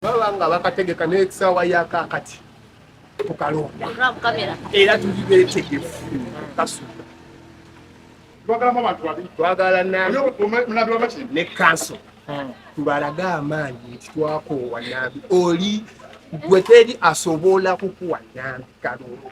baba nga bakategeka n'ekisaawa yakakati tukalonda era tuli beetegefu kasuka twagala ne kanso hmm. tubalage amaanyi nti twakoowa nambi oli gwe teri asobola kukuwa nambi kalonda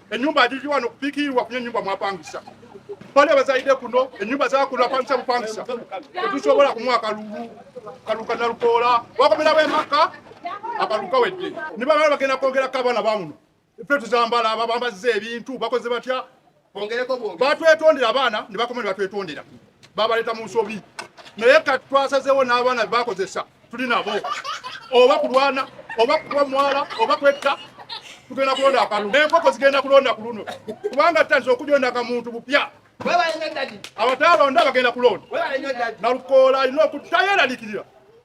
Enyumba ajiji wano kupikiirwa kunya enyumba mwapangisa bali abazaide kuno enyumba zakuno apangisa bupangisa tetusobola kumuwa kalulu kaluka nalukoola wakomerawo emaka akaluka wedde nibamala bagenda kwongerako abaana bamuno ffe tuzambala babambazza ebintu bakoze batya batwetondera abaana ne bakoma ne batwetondera babaleta mu nsobi naye kati twasazeewo n'abaana bebakozesa tuli nabo oba kulwana oba kuba mwala oba kwetta tugenda kulonda akalu naye enkoko zigenda kulonda ku luno kubanga tutandise okujonda akamuntu bupya abataalonda bagenda kulonda nalukoola alina okutayeralikirira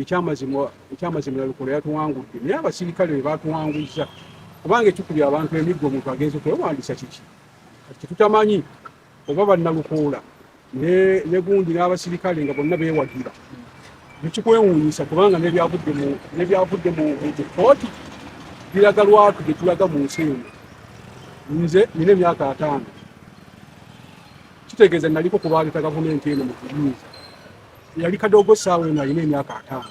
ekyamazima ekyamazima nalukola yatuwangudde naye abasirikale be batuwanguzza kubanga ekikubya abantu emiggo omuntu agenze kwewandisa kiki kati tetutamanyi oba bannalukoola ne gundi n'abasirikale nga bonna beewagira nekikwewuunyisa kubanga nebyavudde mu kooti biraga lwatu gye tulaga mu nsi eno nze nina emyaka ataano kitegeeza naliko kubaaleeta gavumenti eno mu kuyinza yali kadogo saawa eno alina emyaka ataano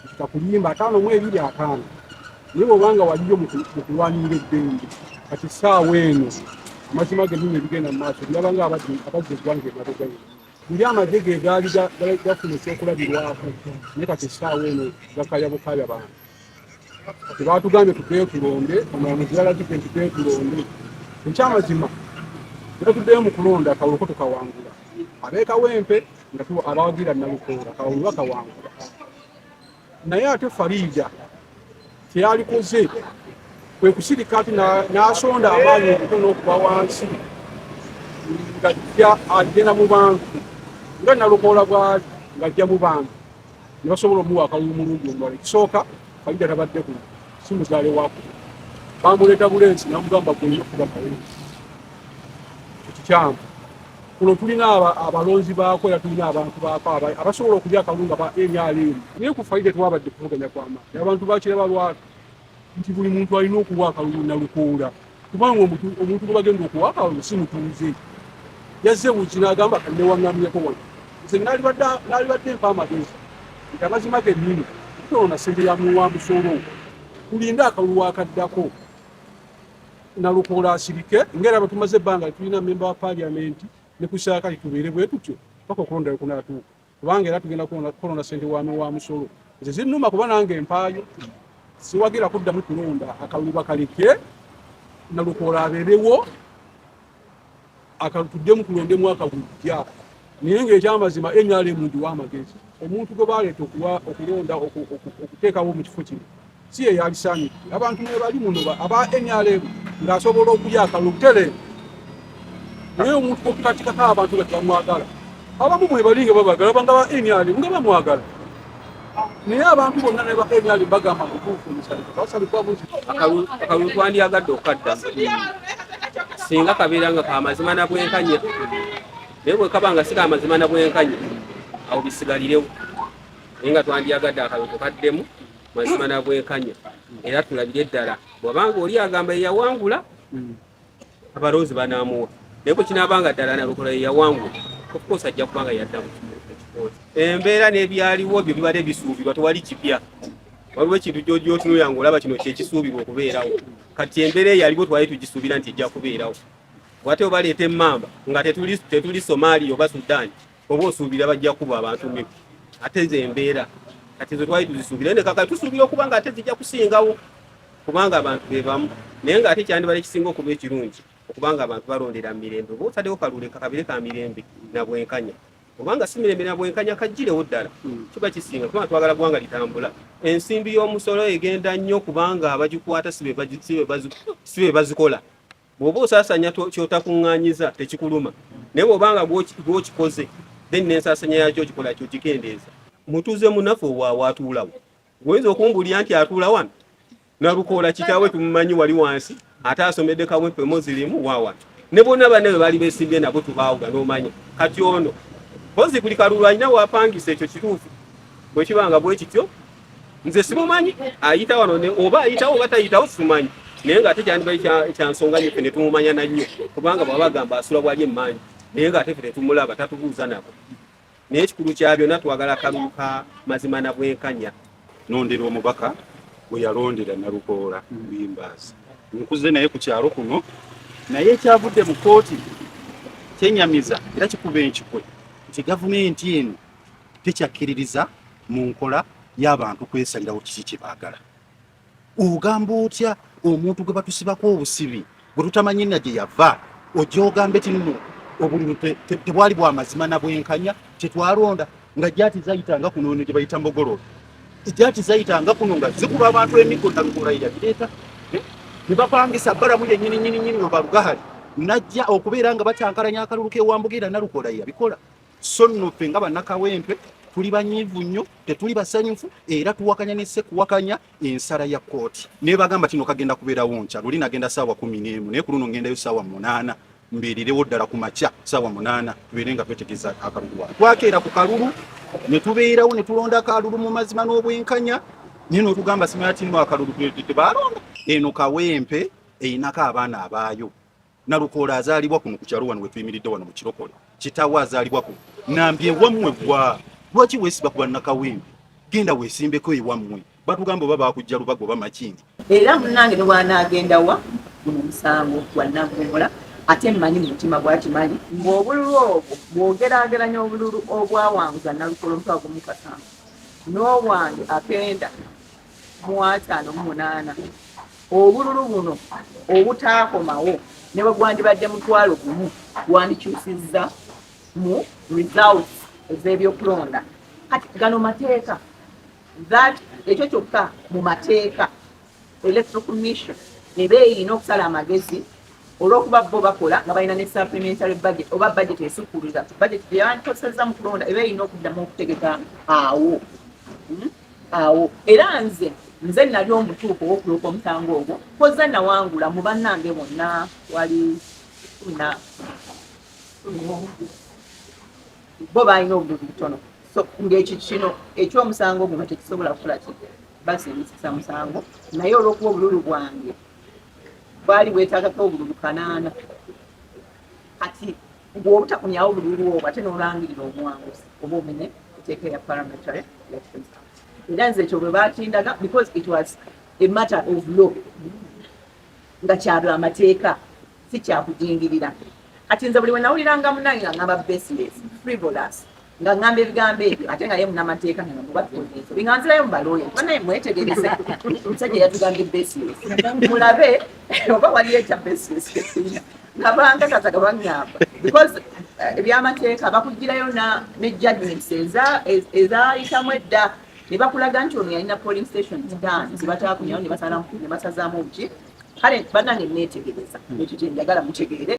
ekita kuyimba ataano mu ebiri ataano naye bwobanga waliyo mu kulwanirira eddembe kati saawa eno amazima gennyini ebigenda mu maaso byabanga abadde abazza eggwanga emabega yena buli amagye ge gaali gafuna ekyokulabirwako naye kati saawa eno gakaya bukaya bantu tebatugambye tukeekulonde omulamuzi yalagidde nti keekulonde ekyamazima natuddeyo mu kulonda akalulu ko tukawangula abeekawempe nga tuwa abawagira nalukoola akalulu bakawangula naye ate fariida kyeyalikoze kwe kusirika ati n'asonda amaanyi okuto n'okuba wansi ng'ajja agenda mu bantu nga nalukoola bwali ng'ajja mu bantu ne basobola omuwa akalulu omulundi omulala ekisooka kalida tabadde ku si muzaale waku bamuleeta bulensi namugamba gwenyina okuba nawe ekikyamu kuno tulina abalonzi baako era tulina abantu baako abasobola okulya akalunga ba nrm naye ku faida twabadde kuvuganya kwamaani abantu bakira balwala nti buli muntu alina okuwa akalulu nalukoola kubanga omuntu gwe bagenda okuwa akalulu si mutuuze yazze buki n'agamba kanewaŋŋamyeko wano nze nalibadde mpa amagezi nti amazima gennyini toona ssente ya muwa musolo tulinde akalulu akaddako nalukoola asirike ngaera abatumaze ebbanga tulina memba wa paliamenti ne ku saakali tubeere bwe tutyo paka okulondayo kunatuuka kubanga era tugenda kulonda sente wami wa musolo nze zinuma kuba nange empaayo siwagira kuddamu kulonda akalulu bakaleke nalukoola abeerewo akatuddemu kulonda emwaka gujja naye ngaekyamazima nrm ndiwa amagezi omuntu gwe baleeta okulonda okuteekawo mu kifo kino si ye yalisaanidde abantu mwebali muno aba nrm ng'asobola okulya akalulu butereevu naye omuntu okukatikako abantu nga tebamwagala abamu mwebali nga babagala banga ba nrm nga bamwagala naye abantu bonna ne ba nrm bagamba mutuufu akalulu twandyagadde okukadda singa kabeera nga kamazima na bwenkanya naye bwekaba nga si kamazima na bwenkanya awo bisigalirewo naye nga twandyagadde akalulu tukaddemu mazima na bwenkanya era tulabire ddala bwabanga oli agamba yeyawangula abalonzi banamuwa naye bwe kinaabanga ddala nalukola yeyawangula ofcourse ajja kubanga yaddamu embeera n'ebyaliwo byo bibadde bisuubirwa tewali kipya waliwo ekintu gyogyotunula nga olaba kino kyekisuubirwa okubeerawo kati embeera eyaliwo twali tugisuubira nti ejja kubeerawo wate obaleeta emmamba nga tetuli somaliya oba sudaani oba osuubira bajja kuba abantu mibi ate ze embeera kati ze twali tuzisuubira ne kaka tusuubira okuba nga ate zijja kusingawo kubanga abantu be bamu naye ng'ate kyandibala ekisinga okuba ekirungi okubanga abantu balondera mirembe oba otadewo kalule kakabire ka mirembe na bwenkanya obanga si mirembe na bwenkanya kajjirewo ddala hmm. kiba kisinga kubanga twagala gwanga litambula ensimbi y'omusolo egenda nnyo kubanga abagikwata si be bazikola bw'oba osaasanya kyotakuŋŋaanyiza tekikuluma naye bw'obanga gw'okikoze then n'ensaasanya yakyo okikola kyo kikendeeza mutuuze munafe owaawo atuulawo oyinza okumbulira nti atuula wano nalukoola kitaawe tumumanyi wali wansi ate asomedde kawempe mozirimu wawa ne bonna banne bwe baali besimbye nabo tubaawuga n'omanya kati ono mpozi buli kalulu alina wapangisa ekyo kituufu bwe kiba nga bwe kityo nze simumanyi ayita wano oba ayitawo oba tayitawo simumanyi naye nga ate kyandibayi kyansonga nyo fe netumumanya nannyo kubanga bwaba agamba asula bwali emmanyi naye nga ate fe tetumulaba tatubuuza nabo naye ekikulu kya byonna twagala kalulu ka mazima na bwenkanya nondera omubaka gwe yalondera nalukoola mbimbaasi nkuze naye ku kyalo kuno naye ekyavudde mu kooti kyenyamiza era kikuba enkikwe nti gavumenti eno tekyakkiririza mu nkola y'abantu kwesalirawo kiki kye baagala. Ogamba otya omuntu gwe batusibako obusibi gwe tutamanyi na gye yava ojja ogamba eti nno obululu tebwali bwa mazima na bwenkanya tetwalonda nga gyati zayitanga kuno eno gye bayita mbogololo gyati zayitanga kuno nga zikuba abantu emiggo na lukola yabireeta eh? ne bapangisa balamu yennyini nyini nyini obalugahali najja okubeera nga bacankalanya akalulu k'ewambuga era nalukola yabikola so nno ffe nga bannakawempe tuli banyiivu nnyo tetuli basanyufu era tuwakanya nesse kuwakanya ensala ya kkooti nebagamba kino kagenda kubeerawo nkya luli nagenda saawa kumi n'emu naye ku luno ngendayo saawa munaana mbeererewo ddala ku makya saawa munaana tubeere nga twetegeza akalulu wa twakeera ku kalulu ne tubeerawo ne tulonda akalulu mu mazima n'obwenkanya naye notugamba simanya tinno akalulu tebalonda eno kawempe erinako abaana abaayo Nalukoola azaalibwa kuno ku kyalo wano we tuyimiridde wano mu Kirokole. Kitaawe azaalibwa kuno. Nambi ewammwe gwa lwaki weesiba ku bannakawempe? Genda weesimbeko ewammwe. Batugamba oba baakujja lubaga oba makindi. Era munnange ne bw'anaagenda wa guno musango gwa Naggomola ate mmanyi mu mutima gwakimanyi ng'obululu obwo bw'ogeraageranya obululu obwawanguza Nalukoola omutwe agumu Kasamba n'obwange akenda mu ataano mu munaana obululu buno obutaakomawo ne bwe gwandibadde mutwalo gumu gwandikyusizza mu results ez'ebyokulonda kati gano mateeka that ekyo kyokka mu mateeka electoral commission eba erina okusala amagezi olwokuba bo bakola nga balina ne supplementary budget oba budget esukkulira budget gyebandikozesezza mu kulonda eba erina okuddamu okutegeka awo hmm? awo era nze nze nali omutuufu owokuloopa omutango ogwo koza nawangula mu bannange bonna wali na bo balina obuguzi butono so ngaekyo kino ekyomusango guno tekisobola kukola ki basingisisa musango naye olwokuba obululu bwange bwali bwetagako obululu kanaana kati mbu obutakomyawo bululu obwo ate n'olangirira omuwanguzi oba omenye eteeka ya parliamentary elections era nze ekyo bwe bakindaga because it was a matter of law nga kyalwa amateeka si kyakujingirira kati nze buli wenawuliranga munange nga ngamba baseless frivolous nga ngamba ebigambo ebyo ate nga ye munamateeka nga mubatwonyeezo binga nzirayo mu balooya kuba naye mwetegereze omusajja yatugambye basis mulabe oba waliyo ekya basis ngabanga kataga bangamba because eh, ebyamateeka bakugirayo ne judgments ezayitamu edda ne bakulaga nti ono yalina polling station zitaano zebatakunyawo ne basazaamu obuki kale banange neetegereza ekyo kyenjagala mutegeere